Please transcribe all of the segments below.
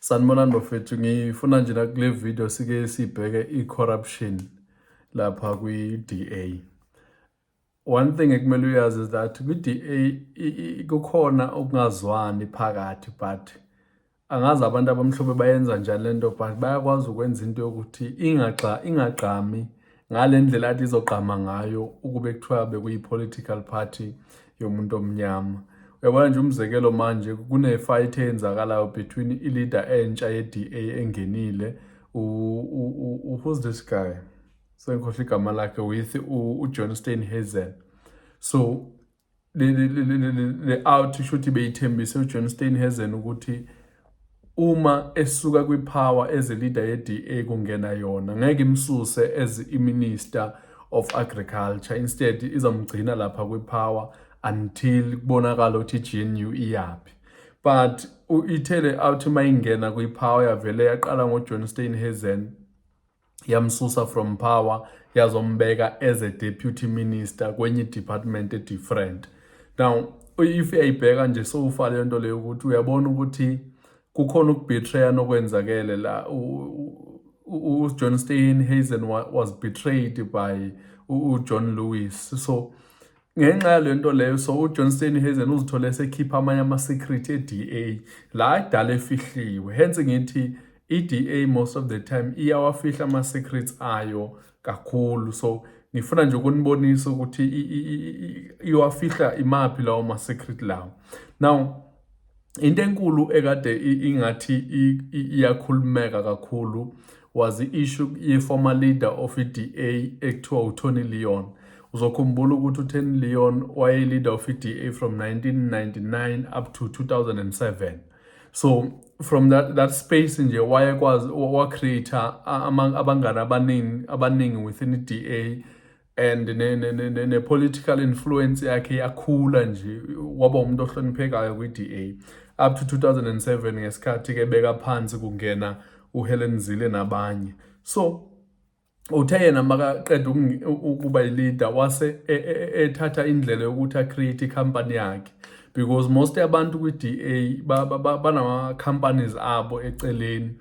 Sanibonani bafethu, ngifuna nje nakule video sike sibheke i-corruption lapha kwi-DA. One thing ekumele uyazi is that kwi-DA kukhona ukungazwani phakathi but angazi abantu abamhlophe bayenza njani lento but bayakwazi ukwenza into yokuthi ingagxa ingagqami ngale ndlela athi izogqama ngayo ukube kuthiwa bekuyi-political party yomuntu omnyama uyabona nje umzekelo manje kune-fight eyenzakalayo between i-leader entsha ye-d a engenile who's this guy sengikhohle igama lakhe with ujohn stein hazel so le out isho ukuthi beyithembise uJohn Steinhazen ukuthi uma esuka kwipower as a leader yeDA kungena yona ngeke imsuse as iminister of agriculture instead izomgcina lapha kwipower until kubonakala ukuthi GNU iyaphi but ithele out mayingena kwipower yavele yaqala ngoJohn Steinhazen yamsusa from power yazombeka as a deputy minister kwenye department e different now if uyayibheka nje sowufa le nto leyo ukuthi uyabona ukuthi kukhona ukubetray nokwenzakele la uJohn Stein Hazen was betrayed by uJohn Lewis so Ngenxa yale nto leyo so uJohn Steenhuisen uzithole esekhipha amanye ama-secret e-DA la kudala efihliwe hence ngithi i-DA most of the time iyawafihla ama-secrets ayo kakhulu so ngifuna nje ukunibonisa ukuthi iwafihla imaphi lawo ma-secret lawo now into enkulu ekade ingathi iyakhulumeka kakhulu was i-issue ye-former leader of i-DA ekuthiwa uTony Leon uzokhumbula ukuthi uTony Leon waye-leader of i-DA from 1999 up to 2007 so from that, that space nje wayekwazi wacreate abangani abaningi abaningi within i-DA and ne, ne, ne, ne, ne political influence yakhe yakhula nje waba umuntu ohloniphekayo kwi-DA up to 2007 ngesikhathi ke beka phansi kungena uHelen Zille nabanye so uthe yena makaqeda ukuba ileader wase e, e, e, ethatha indlela yokuthi acreate icompany yakhe because most yabantu kwi-DA banama companies abo eceleni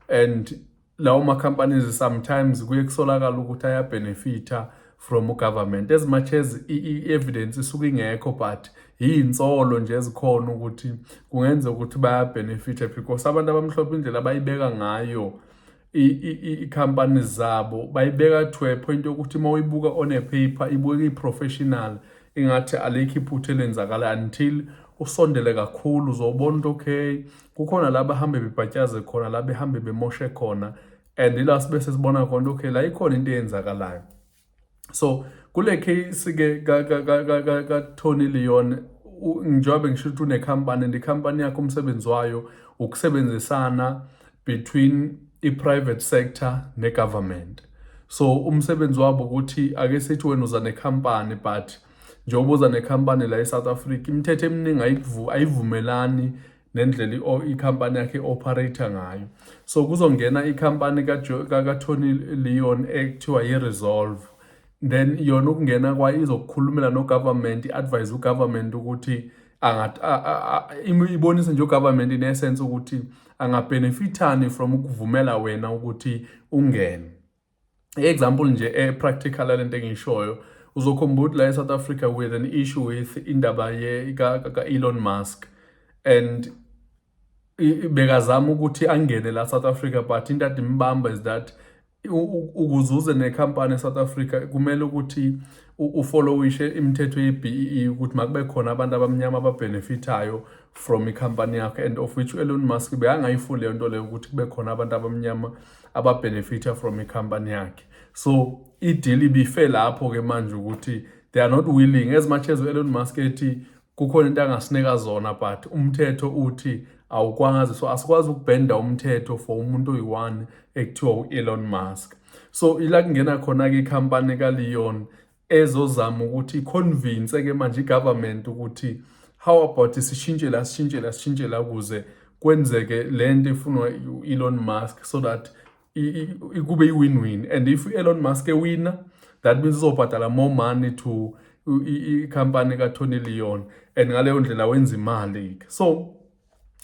and lawo ma-companies sometimes kuye kusolakala ukuthi ayabhenefitha from ugovernment as much as i-evidence isuke ingekho but yiyinsolo nje ezikhona ukuthi kungenzeka ukuthi bayabhenefitha because abantu abamhlophe indlela abayibeka ngayo i-company zabo bayibeka to a point yokuthi uma uyibuka on a paper ibuke i-professional ingathi alikho iphutha elenzakala until usondele kakhulu uzobona ukuthi okay kukhona la bahambe bebhatyaze khona la behambe bemoshe khona and ila sibe sesibona khona okay la ikhona into eyenzakalayo so kule case ke ka ka ka ka ka Tony Leon njengoba ngisho ukuthi unekhampani and ikhampani yakho umsebenzi wayo ukusebenzisana between i-private sector ne-government so umsebenzi wabo ukuthi ake sithi wena uza nekhampani but njengoba uza nekhampani la e-south africa imithetho eminingi ayivumelani nendlela ikhampani yakhe operator ngayo so kuzongena ikhampani katony leon ekuthiwa yi-resolve then yona ukungena kwayo izokukhulumela nogovernment i-advise ugovernment ukuthi ibonise nje ugovernment in essence ukuthi angabhenefithani from ukuvumela wena ukuthi ungene i-example nje e-practical yale nto engiyishoyo uzokhumbula ukuthi la e-south africa with an issue with indaba ka-elon musk and bekazama ukuthi angene la south africa but into ade imbamba is that ukuzuze nekhampani e-south africa kumele ukuthi ufollowishe imithetho ye-bee ukuthi makube khona abantu abamnyama ababhenefithayo from ikhampani yakho and of which u-elon musk bekangayifuni leyo nto leyo ukuthi kube khona abantu abamnyama ababenefita from ikhampani yakhe so ideal ibife lapho ke manje ukuthi they are not willing as much as u-elon musk ethi kukhona into angasinika zona but umthetho uthi awukwazi so asikwazi ukubhenda umthetho for umuntu oyi-one ekuthiwa u-elon musk so ila kungena khona-ke ikhampani kaleon ezozama ukuthi iconvince ke manje igovernment ukuthi how about sishintshe la sishintshe la sishintshe la kuze kwenzeke le nto ifunwa u-elon musk so that kube i-win-win and if u-elon musk ewina that means uzobhadala more money to ikhampani katony leon and ngaleyo ndlela wenza imali-ke so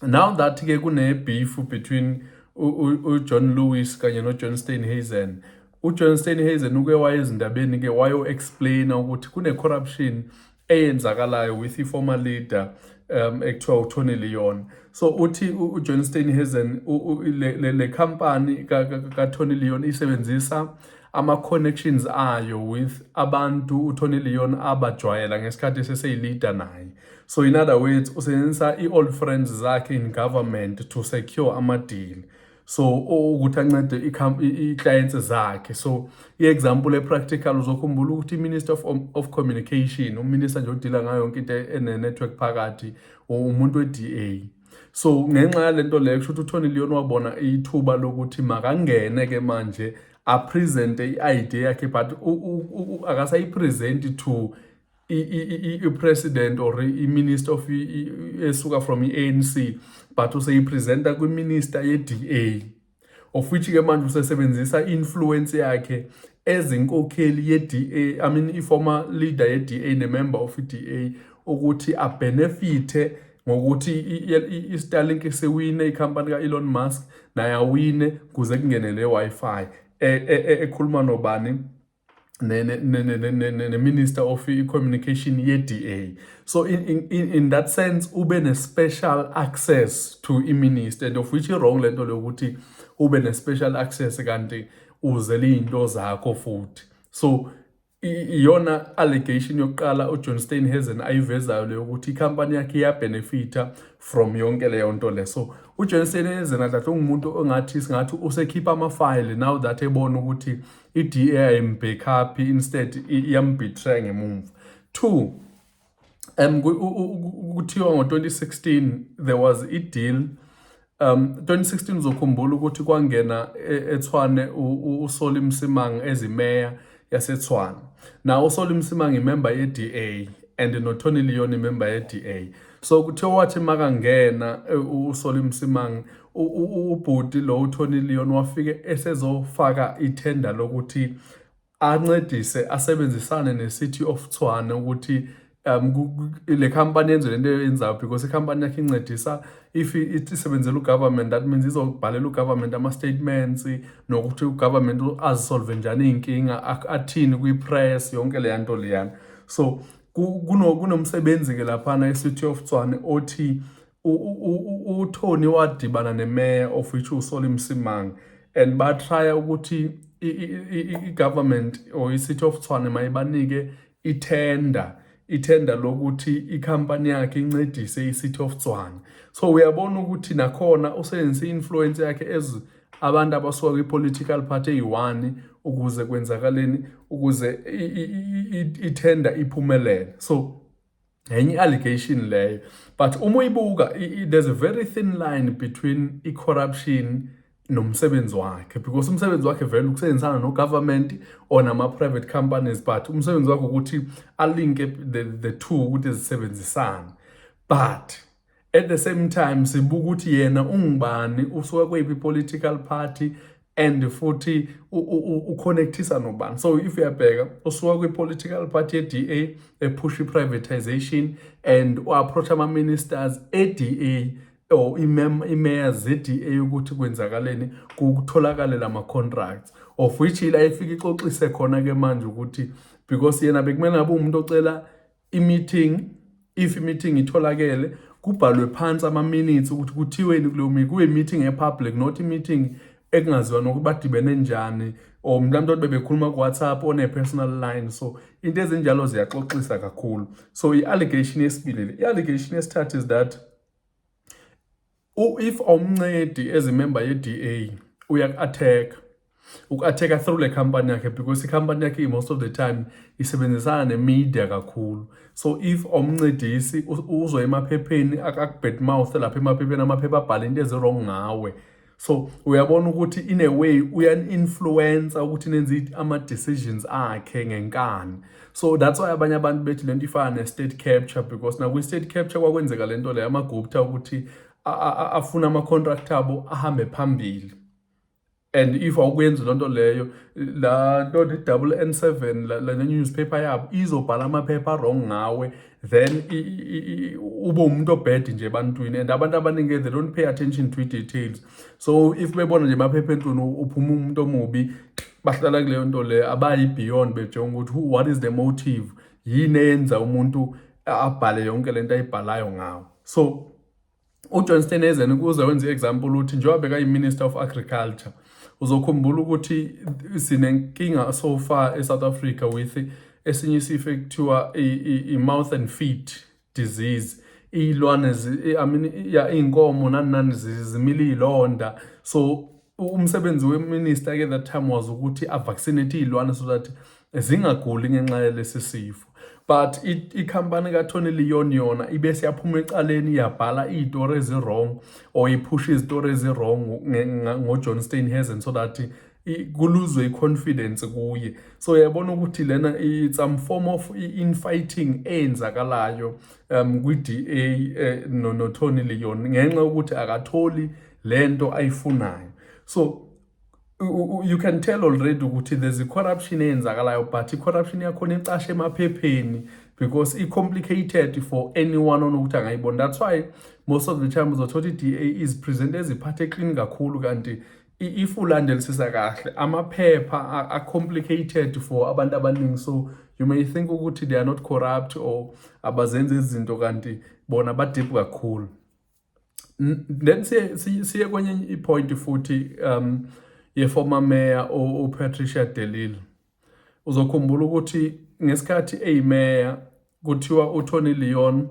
now that ke kune beef between uJohn Lewis kanye noJohn Steinhazen uJohn Steinhazen uke waye ezindabeni ke wayo explain ukuthi kune corruption eyenzakalayo with the former leader um ekuthiwa uTony Leon so uthi uJohn Steinhazen le le company ka, ka, ka Tony Leon isebenzisa ama connections ayo with abantu uTony Leon abajwayela ngesikhathi seseyilida naye So in other words usebenzisa i-old friends zakhe in government to secure ama-deal so ukuthi ancede i-clients zakhe so i-example e-practical uzokhumbula ukuthi i-minister of, of communication uminister nje odila ngayo yonke into ene-network phakathi umuntu we-d a so ngenxa yale nto leyo kusho ukuthi uthoni leon wabona ithuba lokuthi makangene ke manje apresente i-idea yakhe but akasayipresenti to i-president or i-minister of esuka from i-anc but useyipresenta kwiminister ye-da of which ke manje usesebenzisa i-influence yakhe ezinkokheli ye-da i mean i-former leader ye-da ne-member of i-da ukuthi abhenefithe ngokuthi i-starlink sewine ikhampani ka-elon musk naye awine kuze kungene le wi-fi e, e, e, ekhuluma nobani neminister of i-communication ye-da so in, in, in, in that sense ube ne-special access to i-minister and of which i-wrong le nto leyokuthi ube ne-special access kanti uze liyinto zakho futhi so iyona allegation yokuqala ujohn steinhazen ayivezayo leyo ukuthi ikhampani yakhe iyabenefitha from yonke leyo nto le so ujohn steinhazen adlahle ungumuntu ongathi singathi usekhipha amafayile now that ebona ukuthi i-DA ayimbhekhaphi instead iyambetray ngemumva two um kuthiwa ngo-2016 there was i-deal um 2016 uzokhumbula ukuthi kwangena e, ethwane usoli msimanga ezimeya yasethwane nawo usoli msimanga imemba ye-da and notony leon imemba ye-da so kuthe wathi makangena e, usoli msimangi ubhuti lo uthoni leon wafike esezofaka ithenda lokuthi ancedise asebenzisane ne-city of thwane ukuthi um le company yenze lento eyenzayo because i-company yakhe incedisa if isebenzela ugovernment that means izobhalela ugovernment ama-statements nokuthi ugovernment azisolve njani iy'nkinga athini kwi-press yonke leya nto leyana so kunomsebenzi-ke laphana e-city of tswane othi uthoni wadibana nemeya of which usoli msimang and batraya ukuthi i-government or i-city of tswane mayibanike ithenda ithenda lokuthi ikhampani yakhe incedise i-city of tswane so uyabona ukuthi nakhona usebenzise i-influence yakhe as abantu abasuka kwi-political party eyi-one ukuze kwenzakaleni ukuze ithenda iphumelele so enye i-allegation leyo but uma uyibuka there's a very thin line between i-corruption nomsebenzi wakhe because umsebenzi wakhe vele ukusebenzisana no-government or nama-private companies but umsebenzi wakhe ukuthi alinke the, the two ukuthi zisebenzisane but at the same time sibuka ukuthi yena ungubani usuka kweyiphi political party and futhi uconnectisa nobani so if uyabheka usuka kwi-political party ye-da ephusha i-privatization and u-approach ama-ministers e-da or imeya ze-da ukuthi kwenzakaleni kutholakale la ma-contracts of which ila ifike ixoxise khona-ke manje ukuthi because yena bekumele ngabe uwumuntu ocela i-meeting if i-meeting itholakele kubhalwe phansi ama-minutes ukuthi kuthiweni kuleyo meeting kube i-meeting e-public not i-meeting ekungaziwa nokuthi badibene njani or mhlawumbe ukuthi bebekhuluma ku-whatsapp one-personal line so into ezinjalo ziyaxoxisa kakhulu so i-allegation yesibili le i-allegation yesithathu is that If awumncedi as a member yeDA uyaku-attack-a, uku-attack-a through le company yakhe because i-company yakhe i-most of the time isebenzisana ne-media kakhulu. So if awumncedisi uzwa emaphepheni aku-bad mouth-e lapha emaphepheni amaphepha abhale into ezi-wrong ngawe. so uyabona ukuthi in a way uyan-influencer ukuthi nenze ama-decisions akhe ngenkani so that's why abanye abantu bethi le nto ifana ne-state capture because nakwi-state capture kwakwenzeka le nto leyo amagupta ukuthi afune ama-contract abo ahambe phambili and if awukuyenzi loo nto leyo laa nto ne-double n seven le newspaper yabo izobhala amaphepha wrong ngawe then ube umuntu obhedi nje ebantwini and abantu abaningi they don't pay attention to i-details so if bebona nje maphepha enhluni uphuma umuntu omubi bahlala kuleyo nto leyo abayi beyond bejonga ukuthi who what is the motive yini eyenza umuntu abhale yonke lento ayibhalayo ngawo so uJohn Steenhuisen ukuze wenze i-example uthi njengoba bekayi-minister of agriculture uzokhumbula ukuthi sinenkinga so far e-south africa with esinye isifo ekuthiwa i-mouth and feet disease iy'lwane I mean, ya iy'nkomo nani nani zimile iy'londa so umsebenzi weminister ke that time was ukuthi avaccinate iy'lwane so that zingaguli ngenxa yalesi sifo but ikhampani kaTony Leon yona ibe siyaphuma ecaleni yabhala iy'tori ezi-wrong or iphusha izitori ezi-wrong ngojohn steinhazen so that kuluzwe i-confidence kuye so yabona ukuthi lena it's some form of infighting eyenzakalayo um kwi-da eh, notony leon ngenxa yokuthi akatholi le nto ayifunayo so you can tell already ukuthi there's a corruption eyenzakalayo but i-corruption yakhona icashe emaphepheni because i-complicated for anyone onokuthi angayibona that's why most of the time uzothola i-da is present eziphathe eklini kakhulu kanti if ulandelisisa kahle amaphepha a-complicated for abantu abaningi so you may think ukuthi they are not corrupt or abazenzi izinto kanti bona badip kakhulu then siye siye kwenye ipoint futhi um ye former mayor u Patricia Delil uzokhumbula ukuthi ngesikhathi eyimeya kuthiwa uTony Leon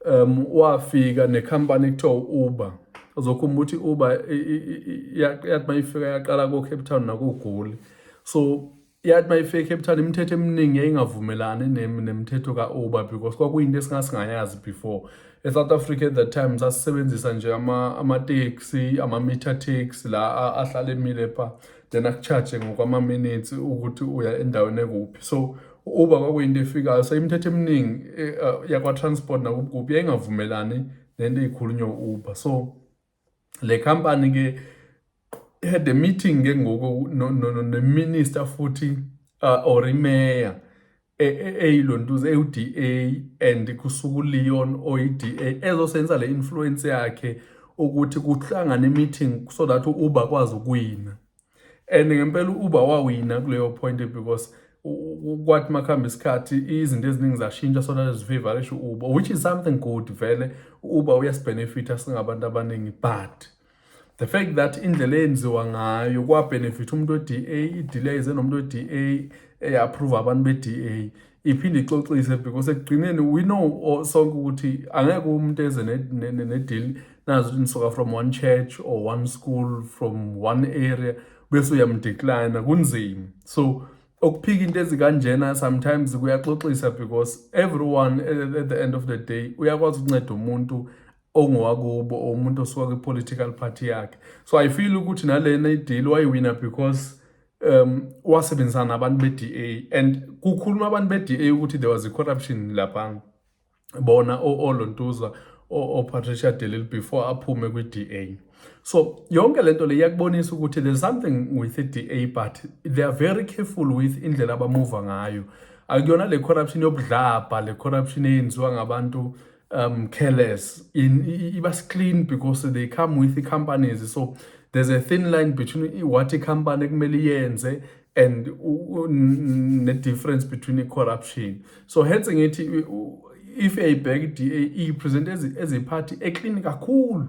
um wafika necompany kuthiwa Uber uzokhumbula ukuthi Uber yathi mayifika yaqala ko Cape Town nakugoli so yathi uma ifika ecape town imithetho eminingi yayingavumelani nemithetho ka-uber because kwakuyinto esingasingayazi before e-south africa at that time sasisebenzisa nje amateksi ama-meter taxi la ahlale emile pha then akucharge ngokwama-minutes ukuthi uya endaweni ekuphi so uba kwakuyinto efikayo so imithetho eminingi eh, eh, yakwa-transport nakubukuphi yayingavumelani nento eyikhulunywa u-uber so le company ke had a meeting ke ngoku no, no, no, no minister futhi uh, or imeya e, e, eyilontuza ewu-DA and kusuku Leon oyi-DA ezosenza le influence yakhe ukuthi kuhlangane meeting so that uba kwazi ukuwina and ngempela uba wawina kuleyo point because kwathi makuhamba isikhathi izinto eziningi zashintsha sona zifavor esho uba which is something good vele uba uyasibenefitha singabantu abaningi but the fact that indlela eyenziwa ngayo kwabenefitha umuntu we-da i-delay ze nomuntu we-da eyi-approve abantu be-da iphinde ixoxise because ekugcineni we know sonke ukuthi angeke umuntu eze ne-deal nazi ukuthi nisoka from one church or one school from one area bese uyamdecline kunzima so okuphika into ezikanjena sometimes kuyaxoxisa because everyone at the end of the day uyakwazi ukunceda umuntu ongowakubo or umuntu osuka kwi-political party yakhe so i feel ukuthi nalena ideal wayiwina because um wasebenzisana nabantu be-DA and kukhuluma abantu be-DA ukuthi there was i-corruption lapha bona olontuzwa oPatricia de Lille before aphume kwi-DA so yonke lento le iyakubonisa ukuthi there's something with i-DA but they are very careful with indlela abamuva ngayo akuyona le corruption yobudlabha le corruption eyenziwa ngabantu um careless in iba clean because they come with the companies so there's a thin line between what the company kumele yenze and the difference between the corruption so hence ngithi if eyibheka i-DA iyipresent as a party eclean kakhulu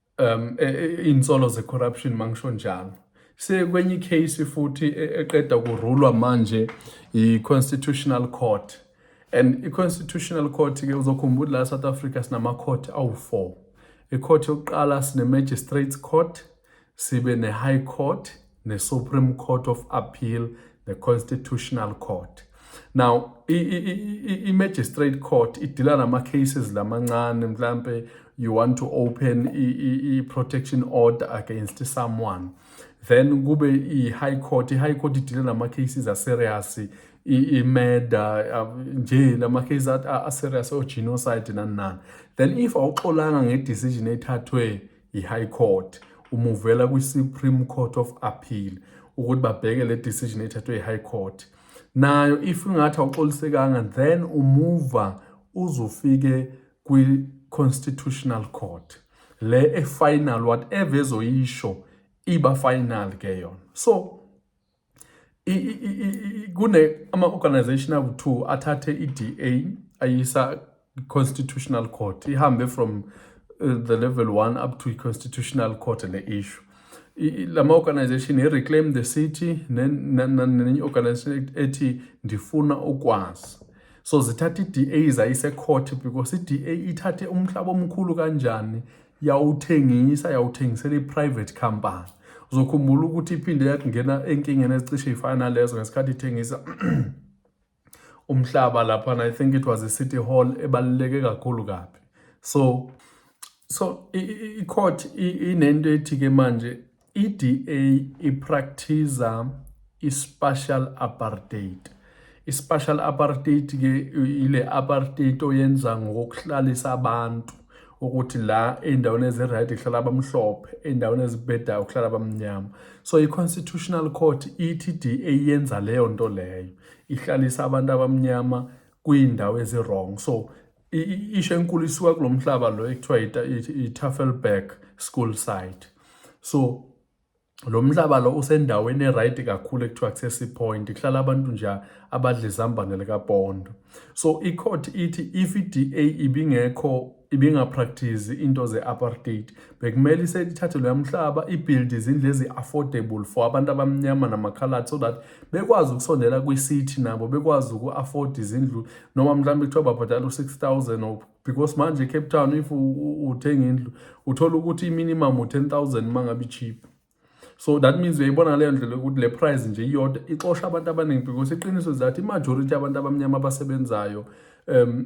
um e, e, insolo ze corruption mangisho njalo sekwenye icase futhi e, eqeda kurulwa manje i constitutional court and i constitutional court ke uzokhumbula la South Africa sinama court awu4 icourt yokuqala sine magistrates court sibe ne high court neSupreme Court of Appeal neConstitutional Court now i-magistrate court idila nama-cases lamancane mhlampe you want to open i-protection order against someone then kube i-high court i-high court idile nama-cases aserious i-murder uh, nje lama-case aserious o-genocide nani nani then if awuxolanga nge-decision ethathwe i-High Court umuvela kwi-Supreme Court of Appeal ukuthi babheke le decision ethathwe i-High Court nayo if ingathi awuxolisekanga then umuva uzofike kwi-Constitutional Court le e-final whatever ezoyisho iba final ke yona so kune ama-organization awu-two athathe i-DA ayisa constitutional court ihambe from uh, the level one up to i-constitutional court ne-issue lama organization he reclaim the city nenye organization ethi ndifuna ukwazi so zithatha i-DA zayise court because i-DA ithathe umhlaba omkhulu kanjani yawuthengisa yawuthengisela i-private company uzokhumbula ukuthi iphinde yakungena enkingeni ezicishe ifana nalezo ngesikhathi ithengisa umhlaba laphana i think it was i-city hall ebaluleke kakhulu kabi so so i-court inento ethi-ke manje I-DA iprakthiza i-spatial apartheid. I-spatial apartheid ke ile apartheid oyenza ngokuhlalisa abantu ukuthi la endaweni eziright kuhlala abamhlophe endaweni ezibhedayo kuhlala abamnyama so i-constitutional court ithi i-DA yenza leyo nto leyo ihlalisa abantu abamnyama kwiindawo ezi-wrong so isho enkulu isuka kulo mhlaba lo ekuthiwa i-Tafelberg school site so lo mhlaba lo usendaweni eright kakhulu ekuthiwa kusesi point kuhlala abantu nje abadla izambane likapondo so icourt ithi if i-da ibingekho ibingapractice into ze-apartheid bekumele iselithathe loya mhlaba ibuild izindlu ezi-affordable for abantu abamnyama namakhalathi so that bekwazi ukusondela kwi-city nabo bekwazi uku-afford izindlu noma mhlawumbe kuthiwa babhadala u-six thousand or because manje ecape town if uthenga indlu uthola ukuthi i-minimum u-ten thousand uma ngabe i-cheap so that means uyayibona ngaleyo ndlela ukuthi le price nje iyodwa ixosha abantu abaningi because iqiniso zathi i-majority abantu abamnyama abasebenzayo um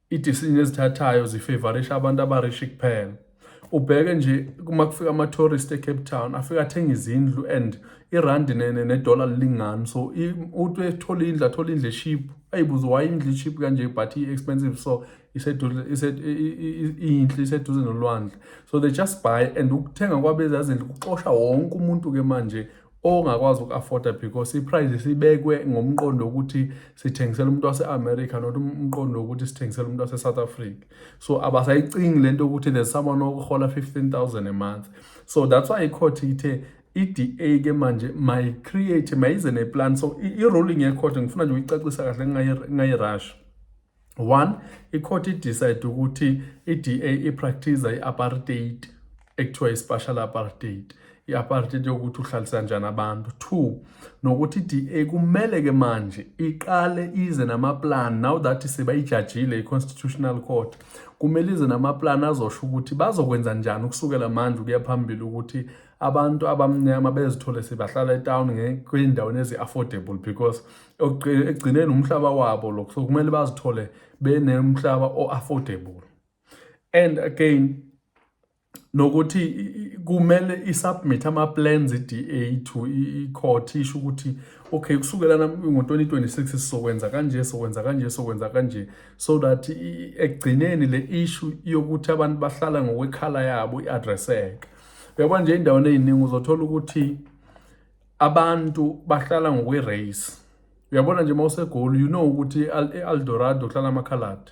I decision ezithathayo zi favorisha abantu aba rich kuphela. Ubheke nje uma kufika ama tourist e Cape Town afika athenga izindlu and i rand ne ne dollar lingani so uthi ethola indlu athola indlu cheap ayibuze why indlu cheap kanje but i expensive so iseduze inhle iseduze nolwandle so they just buy and ukuthenga kwabezazindlu kuxosha wonke umuntu ke manje ongakwazi uku-afforda because i-price sibekwe ngomqondo wokuthi sithengisela umuntu wase-america not umqondo wokuthi sithengisela umuntu wase-south africa so abasayicingi le nto yokuthi there's someone okuhola 15000 a month so that's why icourt ithe i-DA ke manje mayi-create mayize ne-plan so i-ruling yecourt ngifuna nje uyicacisa kahle ngayi-rush One, ikhoti idecide ukuthi i-DA ipractice i-apartheid ekuthiwa i-spatial apartheid i-apartheid yokuthi uhlalisa njani abantu two nokuthi i-DA kumele ke manje iqale ize namaplan now that sebayijajile i-constitutional court kumele ize namaplan azosho ukuthi bazokwenza njani ukusukela manje ukuya phambili ukuthi abantu abamnyama bezithole sebahlala etown kwindaweni ezi-affordable because ekugcineni umhlaba wabo lokho so kumele bazithole benemhlaba o-affordable and again nokuthi kumele isubmit ama-plans i-DA to i-court isho ukuthi okay kusukela ngo-2026 sizokwenza kanje sokwenza kanje sokwenza kanje so that ekugcineni le issue yokuthi abantu bahlala ngokwekhala yabo i-addresseke uyabona nje endaweni ey'ningi uzothola ukuthi abantu bahlala ngokwe-race uyabona nje uma usegoli you know ukuthi i-aldorado kuhlala amakhaladi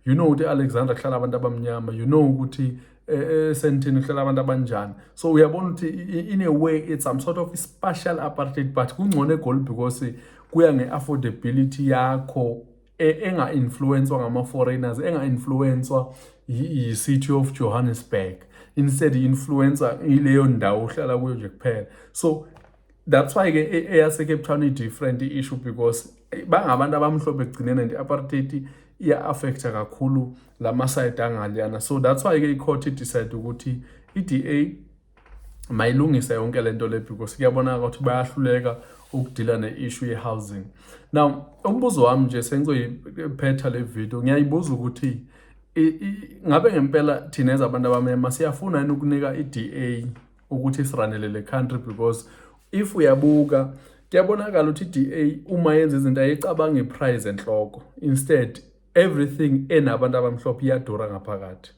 you know ukuthi alexander kuhlala abantu abamnyama you know ukuthi esentini eh, eh, kuhlala abantu abanjani so uyabona ukuthi in a way it's some sort of special apartheid but kungcono egoli because kuya nge-affordability yakho e, enga-influenswa ngama-foreigners enga-influenswa yi-city of johannesburg instead i-influencer ileyo ndawo uhlala kuyo nje kuphela so that's why ke e, eyasecape town i-different i-issue because eh, bangabantu abamhlophe ekugcineni and i-apartheid iya-affecta kakhulu la masayidi angaliyana so that's why ke i-court idecide ukuthi i-da mayilungise yonke le nto le because kuyabonaka ukuthi bayahluleka ukudila ne-issue ye-housing now umbuzo wami nje sengizoyiphetha le video ngiyayibuza ukuthi ngabe ngempela thina ezabantu abamema siyafuna yini ukunika i-da ukuthi siranele le country because if uyabuka kuyabonakala ukuthi i-da uma yenza izinto ayicabanga iprize enhloko instead everything enabantu abamhlophe iyadura ngaphakathi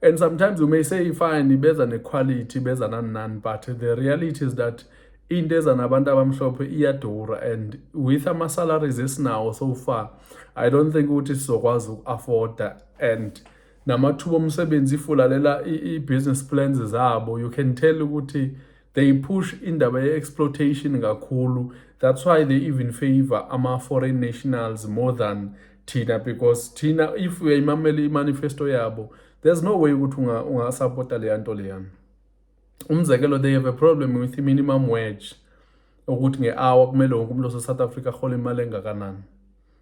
and sometimes you may say fine ibeza nequality ibeza nani nani but the reality is that into eza nabantu abamhlophe iyadura and with ama-salaries esinawo so far i don't think ukuthi sizokwazi uku-afforda and namathuba omsebenzi ifulalela i-business plans zabo you can tell ukuthi they push indaba ye-exploitation kakhulu that's why they even favor ama-foreign nationals more than thina because thina if uyayimamela imanifesto yabo there's no way ukuthi ungasapota leya nto leyana umzekelo they have a problem with i-minimum wage ukuthi nge-hour kumele wonke umuntu osesouth africa ahole imali engakanani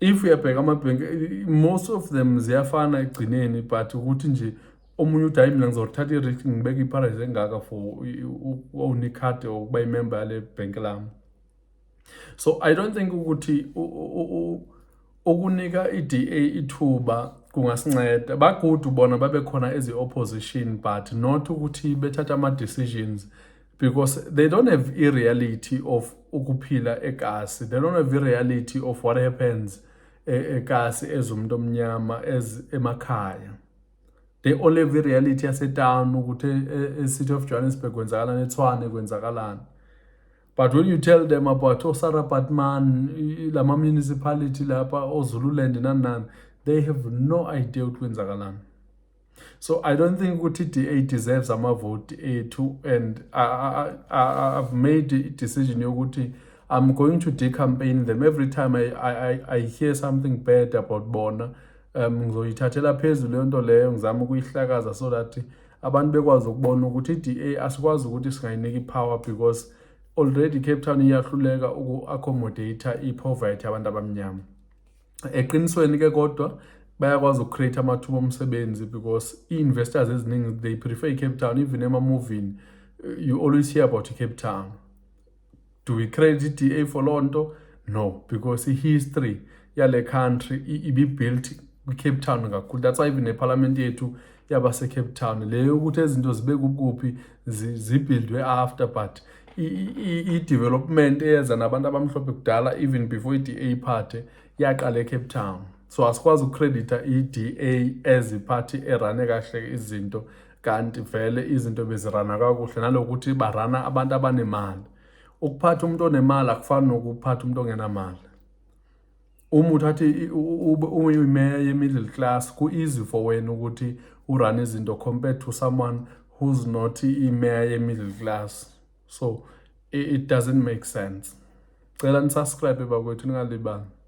if uyabheka amabhenki most of them ziyafana ekugcineni but ukuthi nje omunye uthi hayi mina ngizothatha i-risk ngibeke i-price engaka for unicard or ukuba imember yale bhenki lami so i don't think ukuthi ukunika i-da ithuba kungasinceda bagudu bona babekhona ezi-opposition but not ukuthi bethatha ama-decisions because they don't have a reality of ukuphila ekasi they don't have a reality of what happens eh, ekasi as umuntu omnyama as emakhaya they all have a reality yasetown ukuthi eh, e-city of johannesburg kwenzakalani ethwane kwenzakalani but when you tell them about osara oh, batman lama municipality lapha ozululand oh, nani nani they have no idea ukuthi kwenzakalani so i don't think ukuthi i-da deserves amavoti ethu and I, I, I, i've made i-decision yokuthi i'm going to decampaign them every time I, I, I hear something bad about bona um ngizoyithathela phezulu leyo nto leyo ngizama ukuyihlakaza so that abantu bekwazi ukubona ukuthi i-da asikwazi ukuthi singayinika i-power because already cape town iyahluleka uku-accommodate i-poverty abantu abamnyama eqinisweni ke kodwa bayakwazi ukucreate amathuba omsebenzi because i-investors eziningi they prefer icape town even emamovini you always hear about icape town do we credit i-da for loo nto no because i-history yale country ibibuilt kwicape town kakhulu that's why even nephalamenti yethu yabasecape town le yokuthi izinto zibe kukuphi zibhildwe after but i-development eyeza nabantu abamhlophe kudala even before i-da iphathe yaqala ecape town so asikwazi ukukreditha i-da as iphathi erane kahle izinto kanti vele izinto bezirana kakuhle nalokuthi barana abantu abanemali ukuphatha umuntu onemali akufani nokuphatha umuntu ongenamali uma uthatha uyimeya ye-middle class ku-easy for wena ukuthi urun izinto compared to someone who's not imeya ye-middle class so it doesn't make sense cela nisubscribe bakwethu ningalibanga